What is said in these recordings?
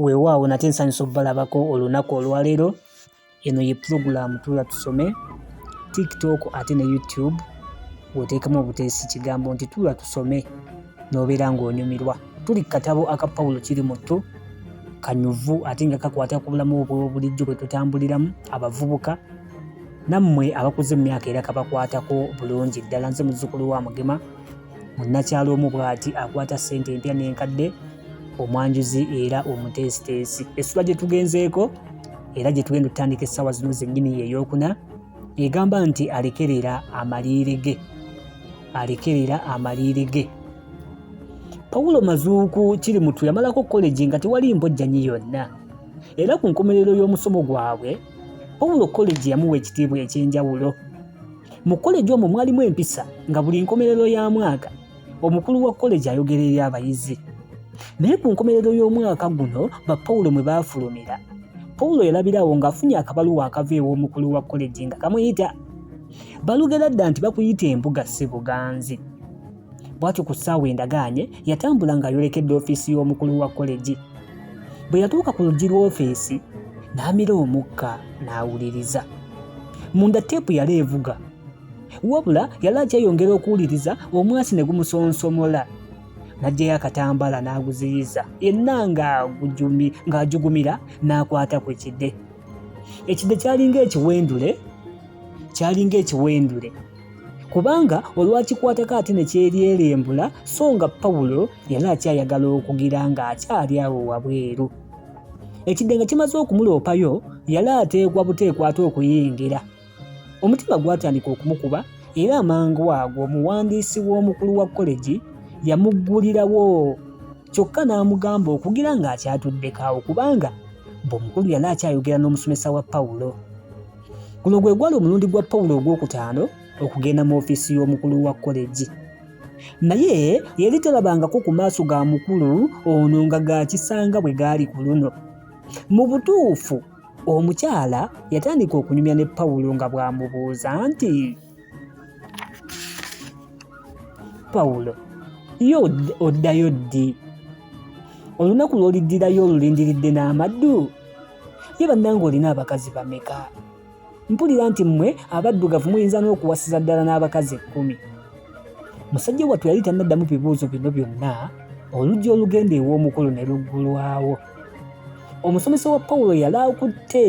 Weewaawo nate nsanyuse okubalabako olunaku olwaleero. Eno ye pulogulaamu Tuula Tusome, TikTok ate ne YouTube w'oteekamu obuteesi kigambo nti Tuula Tusome n'obeera ng'onyumirwa. Tuli ku katabo aka Pawulo kiri mu ttu kanyuvu ate nga kakwata ku bulamu obw'obulijjo bwe tutambuliramu abavubuka nammwe abakuze mu myaka era kabakwatako bulungi ddala. Nze muzzukulu wa Mugema. munnakyalo omu bw'ati akwata ssente empya n'enkadde omwanjuzi era omuteesiteesi essula gye tugenzeeko era gye tugenda otutandika essaawa zino zennyini ye eyokuna egamba nti alekerera amaliire ge alekerera amaliire ge pawulo mazuuku kiri mutu yamalako kolegi nga tewali mbojjanyi yonna era ku nkomerero y'omusomo gwabwe pawulo kolegi yamuwa ekitiibwa eky'enjawulo Mu koleji omwo mwalimu empisa nga buli nkomerero ya mwaka omukulu wa koleji ayogera eri abayizi. Naye ku nkomerero y'omwaka guno ba Pawulo mwe baafulumira. Pawulo yalabirawo ng'afunye akabaluwa akava ew'omukulu wa koleji nga kamuyita. Balugera dda nti bakuyita embuga si buganzi. bwatyo ku ssaawa endagaanye yatambula ng'ayolekedde ofiisi y'omukulu wa kolegi bwe yatuuka ku luggi lw'ofiisi n'amira omukka n'awuliriza munda teepu yali evuga wabula yali akyeyongera okuwuliriza omwasi ne gumusonsomola n'aggyayo akatambaala n'aguziyiza yenna ng'ajugumira n'akwata ku kide ekide kyalinga ekiwendule kyalinga ekiwendule kubanga olwakikwatako ate ne kyeryerembula so nga pawulo yali akyayagala okugira ng'akyali awo wabweru ekidde nga kimaze okumuloopayo yali ateekwa buteekwa ate okuyingira omutima gwatandika okumukuba era amangu ago omuwandiisi w'omukulu wa kolegi yamuggulirawo kyokka n'amugamba okugira ng'akyatuddekaawo kubanga bw'omukulu yali akyayogera n'omusomesa wa pawulo Guno gwe gwali omulundi gwa Pawulo ogw'okutaano okugenda mu ofiisi y'omukulu wa koleji. Naye yali talabangako ku maaso ga mukulu ono nga gaakisanga bwe gaali ku luno. Mu butuufu, omukyala yatandika okunyumya ne Pawulo nga bw'amubuuza nti, Pawulo, ye oddayo ddi? Olunaku lw'oliddirayo olulindiridde n'amaddu? ye bannange olina abakazi bameka mpulira nti mmwe abaddugavu muyinza n'okuwasiza ddala n'abakazi ekkumi musajja wattu yali tannaddamu bibuuzo bino byonna oluggi olugenda ew'omukulu ne luggulwawo omusomesa wa pawulo yali akutte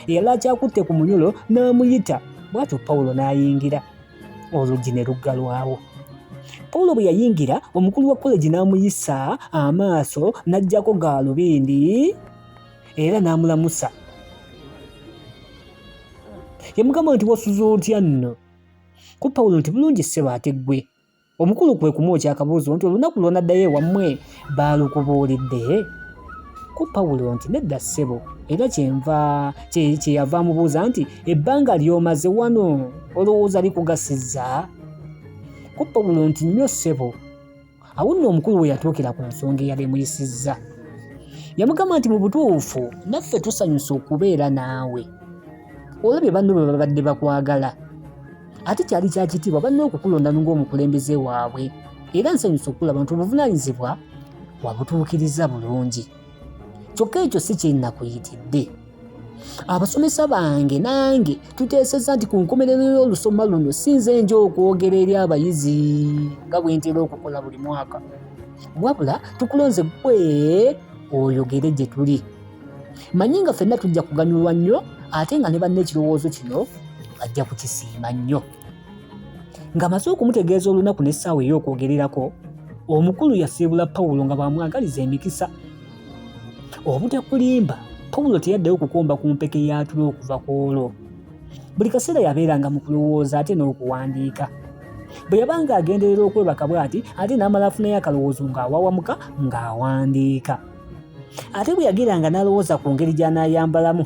yali akyakutte ku munyolo n'amuyita bw'atyo pawulo n'ayingira oluggi ne luggalwawo pawulo bwe yayingira omukulu wa koleji n'amuyisa amaaso n'aggyako gaalubindi era n'amulamusa yamugamba nti wasuza otya nno ku pawulo nti bulungi ssebo ate ggwe omukulu kwe kumwokya akabuuzo nti olunaku lwonaddayo ewammwe baalukubuulidde ku pawulo nti nedda ssebo era kyenva kyeyava amubuuza nti ebbanga lyomaze wano olowooza likugasiza ku pawulo nti nnyo ssebo awo nno omukulu we yatuukira ku nsonga eyali emuyisizza yamugamba nti mu butuufu naffe tusanyusa okubeera naawe olabye banno bwe babadde bakwagala ate kyali kya kitiibwa banna okukulonda ng'omukulembeze waabwe era nsanyusa okulaba nti obuvunaanyizibwa wabutuukiriza bulungi kyokka ekyo si kyenakuyitidde abasomesa bange nange tuteesezza nti ku nkomerero y'olusoma luno sinze nja okwogera eri abayizi nga bwe ntera okukola buli mwaka wabula tukulonze gwe oyogere gye tuli manyi nga fenna tujja kuganyulwa nnyo ate nga ne banna ekirowoozo kino bajja kukisiima nnyo nga maze okumutegeeza olunaku n'essaawa ey'okwogererako omukulu yasiibula pawulo nga bwamwagaliza emikisa obutakulimba pawulo teyaddeyo kukomba ku mpeke y'atula okuva ku olwo buli kaseera yabeeranga mu kulowooza ate n'okuwandiika bwe yabanga agenderera okwebaka bw'ati ate n'amala afunayo akalowoozo ng'awawamuka ng'awandiika ate bwe yageranga n'alowooza ku ngeri gy'anaayambalamu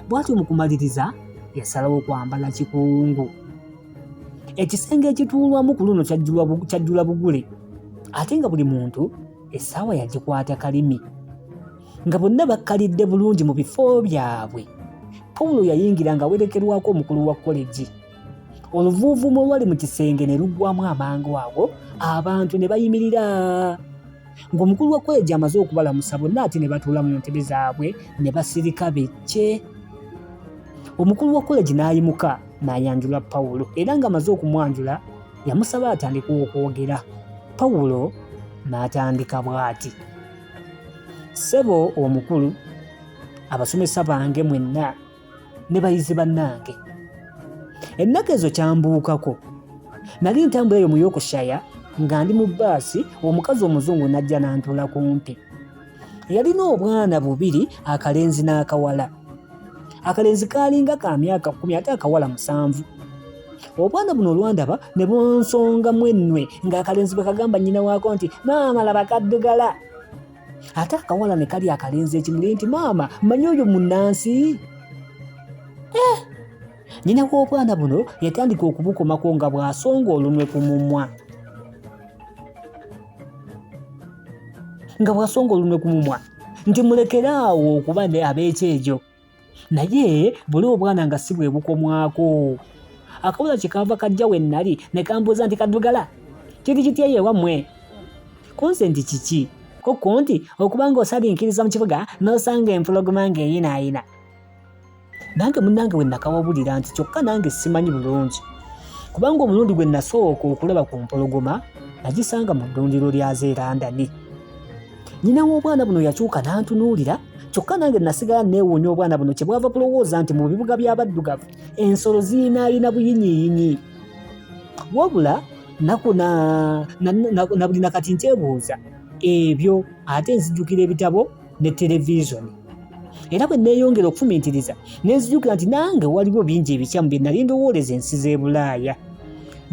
bw'atyo mu kumaliriza yasalawo kwambala kikungu ekisenge ekituulwamu ku luno kyajjula bugule ate nga buli muntu essaawa yagikwata kalimi nga bonna bakkalidde bulungi mu bifo byabwe pawulo yayingira nga awerekerwako omukulu wa koleji oluvuuvuumo olwali mu kisenge ne luggwamu amangu ago abantu ne bayimirira ng'omukulu wa koleji amaze okubalamusa bonna ate ne batuula mu ntebe zaabwe ne basirika bekke omukulu wa koleji n'ayimuka n'ayanjula Pawulo era ng'amaze okumwanjula yamusaba atandika okwogera. Pawulo n'atandika bw'ati, Ssebo omukulu, abasomesa bange mwenna ne bayizi bannange, ennaku ezo kyambuukako. Nali ntambula eyo mu Yorkshire nga ndi mu bbaasi, omukazi omuzungu n'ajja n'antuula kumpi. yalina obwana bubiri akalenzi n'akawala akalenzi kaalinga ka myaka kkumi ate akawala musanvu obwana buno olwandaba ne bunsongamu ennwe ng'akalenzi bwe kagamba nnyina waako nti maama laba kaddugala ate akawala ne kali akalenzi ekimuli nti maama manya oyo munnansi eh! Nnyina w'obwana buno yatandika okubukomako nga bw'asonga olunwe ku mumwa. nga bw'asonga olunwe ku mumwa nti mulekere awo okuba ab'ekyejo naye buli obwana nga si bwe bukomwako akabula kye kaava kajja we nnali ne kambuuza nti kaddugala kiri kitya ye wammwe kunse nti kiki kukku nti okuba ng'osalinkiriza mu kibuga n'osanga empologoma ng'eyinaayina nange munange we nakawabulira nti kyokka nange simanyi bulungi kubanga omulundi gwe nasooka okulaba ku mpologoma nagisanga mu ddundiro lyazo erandani nyina w'obwana buno yakyuka n'antunuulira kyokka nange nasigala neewuunya obwana buno kye bwava kulowooza nti mu bibuga by'abaddugavu ensolo ziyinaayina buyinyiiyinyi wabula nakuna nabulina kati nkyebuuza ebyo ate nzijukira ebitabo ne televizoni era bwe neeyongera okufumiitiriza ne nzijukira nti nange waliwo bingi ebikyamu bye nali ndowooleza ensi z'e bulaaya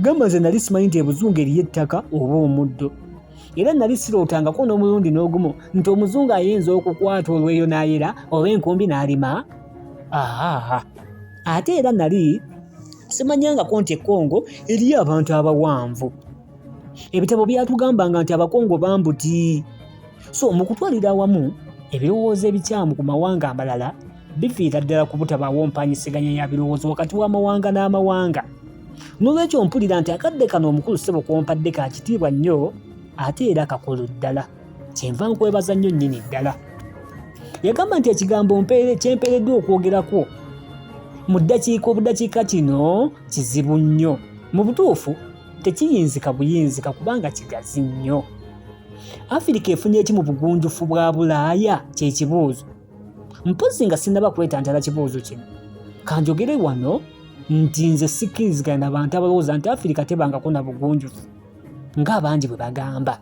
gamba nze nali simanyi nti ebuzungu eriyo ettaka oba omuddo era nali sirootangako n'omulundi n'ogumu nti omuzungu ayinza okukwata olweyo n'ayera oba enkumbi n'alima aa ate era nali simanyangako nti ekongo eriyo abantu abawanvu ebitabo byatugambanga nti abakongo bambuti so mu kutwalira awamu ebirowoozo ebikyamu ku mawanga amalala bifiira ddala ku butabaawo mpanyiseganya ya birowoozo wakati w'amawanga n'amawanga n'olwekyo mpulira nti akadde kano omukulu ssebo kwompadde ka kitiibwa nnyo ate era kakulu ddala kyenva nkwebaza nnyo nnyini ddala yagamba nti ekigambo mpeere kyempeereddwa okwogerako mu ddakiika obudakiika kino kizibu nnyo mu butuufu tekiyinzika buyinzika kubanga kigazi nnyo afirika efunye eki mu bugunjufu bwa bulaaya kyekibuuzo mpozi nga sinaba kwetantala kibuuzo kino kanjogere wano nti nze sikkirizigana na bantu abalowooza nti afirika tebangako na bugunjufu ng'abangi bwe bagamba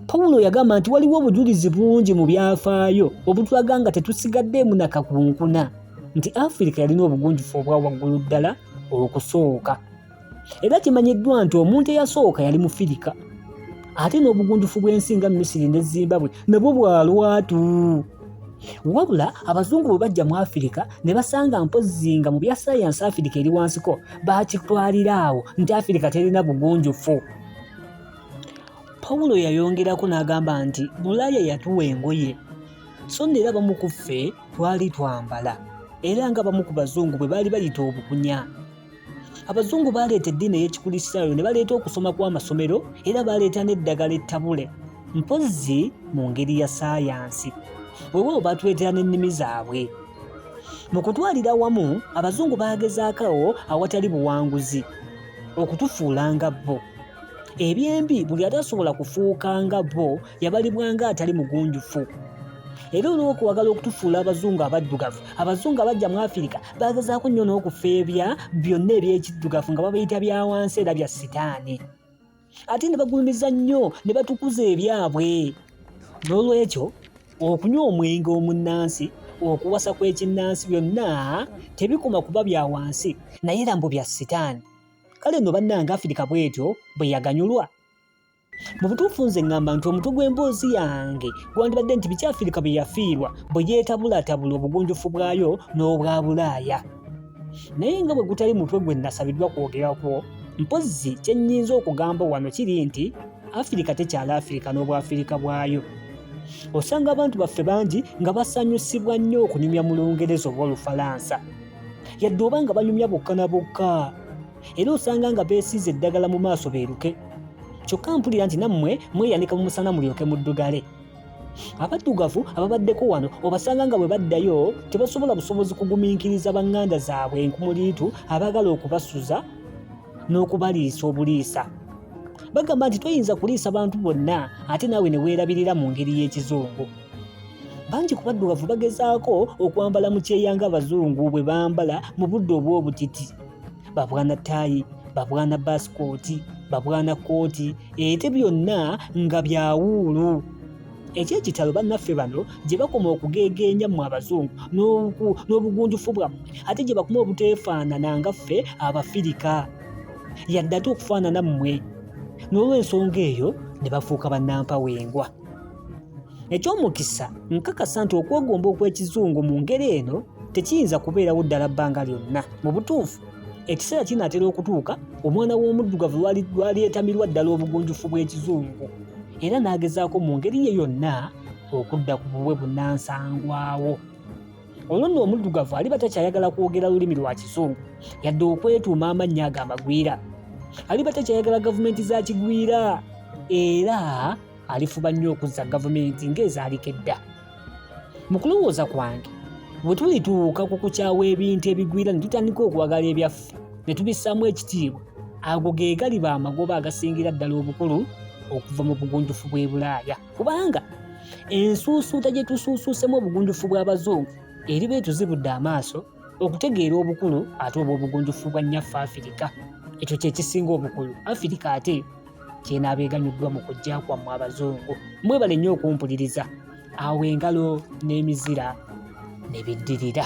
pawulo yagamba nti waliwo obujulizi bungi mu byafaayo obutulaga nga tetusigaddeemu nakakunkuna nti afirika yalina obugunjufu obwa waggulu ddala okusooka era kimanyiddwa nti omuntu eyasooka yali mufirika ate n'obugunjufu bw'ensi nga misiri ne zimbabwe nabwo bwa lwatu wabula abazungu bwe bajja mu afirika ne basanga mpozzi nga mu bya sayansi afirika eri wansiko bakitwalira awo nti afirika terina bugunjufu pawulo yayongerako n'agamba nti bulaaya yatuwa engoye so nno era bamu ku ffe twali twambala era nga bamu ku bazungu bwe baali bayita obukunya abazungu baaleeta eddiini ey'ekikulisitaayo ne baleeta okusoma kw'amasomero era baaleeta n'eddagala ettabule mpozzi mu ngeri ya saayansi weewaawo baatuleetera n'ennimi zaabwe mu kutwalira wamu abazungu baagezaakawo awatali buwanguzi okutufuula nga bo ebyembi buli atasobola kufuuka nga bo yabalibwanga atali mugunjufu era olw'okwagala okutufuula abazungu abaddugavu abazungu abajja mu afirika bagezaako nnyo n'okufeebya byonna eby'ekiddugavu nga babayita bya wansi era bya sitaani ate ne bagulumiza nnyo ne batukuza ebyabwe n'olwekyo okunywa omwenge omunnansi okuwasa kw'ekinnansi byonna tebikoma kuba bya wansi naye era mbu bya sitaani kale no bannanga afirika bwetyo bwe yaganyulwa mu butuufu nze ŋŋamba nti omutwe gw'emboozi yange gwandibadde nti biki afirika bye yafiirwa bwe yeetabulatabula obugunjufu bwayo n'obwa bulaaya naye nga bwe gutali mutwe gwe nasabiddwa kwogerakwo mpozzi kye nnyinza okugamba wano kiri nti afirika tekyala afirika n'obwafirika bwayo osanga abantu baffe bangi nga basanyusibwa nnyo okunyumya mu lungereza oba olufalansa yadde oba nga banyumya bokka na bokka era osanga nga beesiize eddagala mu maaso beeruke kyokka mpulira nti nammwe mweyanika mu musana mulyoke muddugale abaddugavu ababaddeko wano obasanga nga bwe baddayo tebasobola busobozi kugumiikiriza banganda zaabwe enkumuliitu abaagala okubasuza n'okubaliisa obuliisa bagamba nti toyinza kuliisa bantu bonna ate naawe ne weerabirira mu ngeri y'ekizungu bangi ku baddugavu bagezaako okwambala mu kyeya nga abazungu bwe bambala mu budde obw'obutiti babwana taayi babwana basikooti babwana kooti ete byonna nga byawuulu ekyekitalo bannaffe bano gye bakoma okugeegeenya mu abazungu n'obugunjufu bwammwe ate gye bakuma obuteefaanana nga ffe abafirika yadde ate okufaanana mmwe n'olwensonga eyo ne bafuuka bannampawengwa Eky'omukisa, nkakasa nti okwegomba okw'ekizungu mu ngeri eno tekiyinza kubeerawo ddala bbanga lyonna. Mu butuufu, ekiseera kinaatera okutuuka omwana w'omuddugavu lw'alyetamirwa ddala obugunjufu bw'ekizungu era n'agezaako mu ngeri ye yonna okudda ku bubwe bunnansangwawo. Olwo nno omuddugavu aliba takyayagala kwogera lulimi lwa kizungu yadde okwetuuma amannya ago amagwira. Aliba takyayagala gavumenti za kigwira era alifuba nnyo okuzza gavumenti ng'ezaalika edda mu kulowooza kwange bwe tulituuka ku kukyawa ebintu ebigwira ne tutandika okwagala ebyaffe ne tubissaamu ekitiibwa ago ge galiba amagoba agasingira ddala obukulu okuva mu bugunjufu bw'e bulaaya kubanga ensuusuuta gye tusuusuusemu obugunjufu bw'abazungu eriba etuzibudde amaaso okutegeera obukulu ate obw'obugunjufu bwa nnyaffe afirika ekyo kye kisinga obukulu afirika ate kyenaaba eganyuddwa mu kujja kwammwe abazungu mwebale nnyo okumpuliriza awo engalo n'emizira ne biddirira